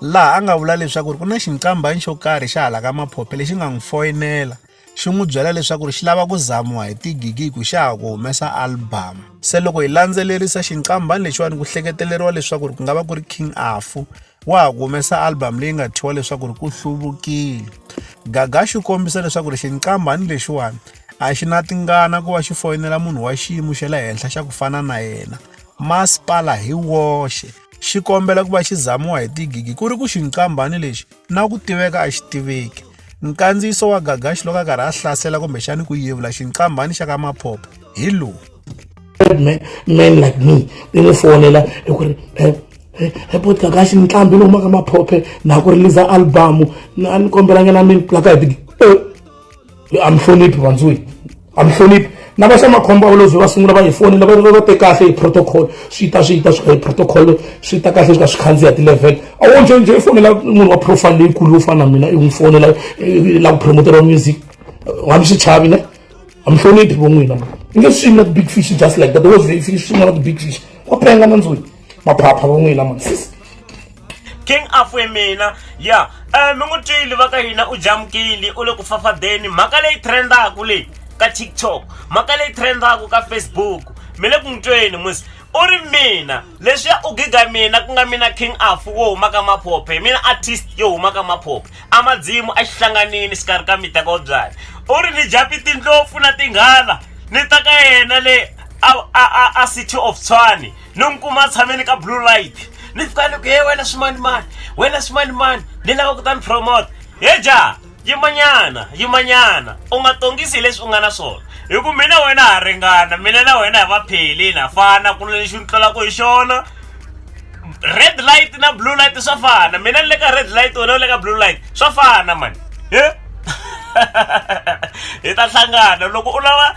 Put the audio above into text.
laha a nga vula leswaku ku na xincambanyi xo karhi xa hala ka maphophe lexi nga n'wi foyinela xi n'wi byela leswaku ri xi lava ku zamiwa hi tigigi hi ku xa ha ku humesa albhamu se loko hi landzelerisa xinkambani lexiwani ku hleketeleriwa leswaku ri ku nga va ku ri king afu wa ha ku humesa albhamu leyi nga thyiwa leswaku ri ku hluvukile gaga xi kombisa leswaku ri xinkambani lexiwani a xi na tingana ku va xi foyinela munhu wa xiyimo xa le henhla xa ku fana na yena masipala hi woxe xi kombela ku va xi zamiwa hi tigigi ku ri ku xinkambhani lexi na ku tiveka a xi tiveki nkandziyiso wa gagaxi loko a karhi a hlasela kumbexani ku yevula xinkambhani xa ka maphopho hi lowu man, man like me ni n'wi fonela hi ku ri eh, eh, eh, bot gagaxi ni tlambi ni humaka maphophe na ku riliza albamu a ni kombelanga na mini plaka hi tigigi amhloniphi vandzwini amhloniphi na va xa makhombo a volozi va sungula va hi foni lava va te kahle hi protocol swi ta swi ta swi ka hi protocol swi ta kahle swi ka swi khandziya ti-level a wo nje nje i fonela munhu wa profile leyikulu yo fana na mina i n'wi fonela la ku promoteriwa music wa mi xi chavi ne a mi hloniphi vo n'wina i nge swimi na ti-big fish just like that the world big fish swin'wana ti-big fish wa penga na ndzwini maphapha vo n'wina ma king afwe mina ya um mi n'wi twile va ka hina u jamukile u le ku fafadeni mhaka leyi trendaku leyi ka tiktok mhaka leyi trendaku ka facebook mi le ku n'wi tweni musi u ri mina leswiya u giga mina ku nga mina king afu wo huma ka maphophe hi mina artist yo huma ka maphophe a madzimu a xi hlanganini xikarhi ka miteka wo byala u ri ni japi tindlopfu na tinghala ni ta ka yena le a city of tshwani ni n'wi kuma a tshame ni ka blue light ni fika ni ku he wena swimanimani wena swimanimani ni lava ku ta ni promote he ja yimanyana yimanyana u nga tongisi hi leswi u nga na swona hi ku mina wena ha ringana mina na wena hi va phelini ha fana ku na lexi ni tlolaka hi xona red light na blue light swa fana mina ni le ka red light wena u le ka blue light swa fana mani hi ta hlangana loko u lava